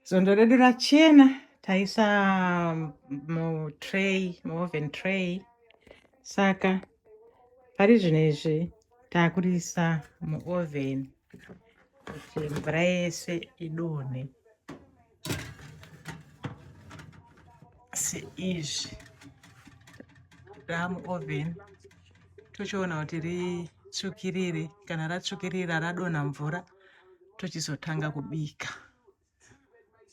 Zondo redu rachena taisa mutray muoven tray saka pari zvino izvi takurisa muoven kuti mvura yese idonhe seizvi ramuoven tochiona kuti ritsvukirire kana ratsvukirira radonha mvura tochizotanga kubika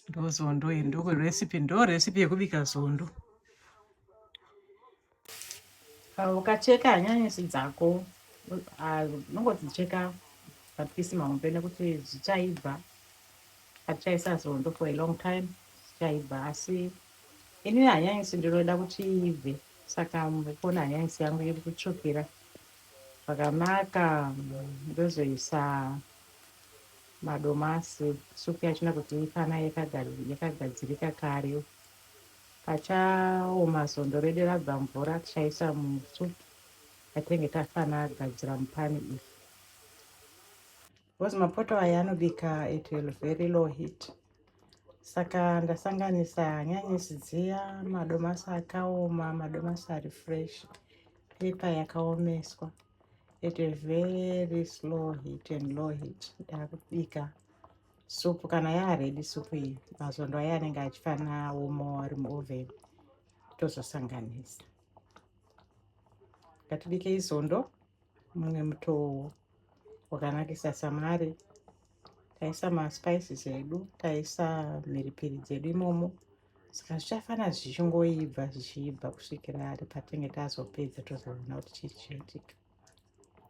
ndozondo iyi ndokurecipe ndo recipe yekubika zondo ukacheka hanyanisi dzako unongodzicheka mapisi mahombe nekuti zvichaibva atichaisa zondo for a long time zvichaibva asi ini hanyanisi ndinoda kuti iibve saka mukona hanyanisi yangu iri kutsvukira Zvakanaka ndozoisa madomasi supu yacho nekuti ifana yakagadzirika kare. Pachaoma so ndoready rabva mvura tichaisa musupu yatinenge tafana gadzira mupani iyi. because mapoto aya anobika at a very low heat saka ndasanganisa hanyanisi dziya madomasi akaoma madomasi ari fresh pepa yakaomeswa at a very slow heat and low heat ndakubika supu kana yaaredi supu iyi mazondo aya anenge achifana womo ari muoven tozosanganisa ngatibike izondo mumwe mutowo wakanakisa samare taisa maspices edu taisa mhiripiri dzedu imomo saka zvichafana zvichingoibva zvichiibva kusvikira ari patinge tazopedza tozoona kuti chii chichiitika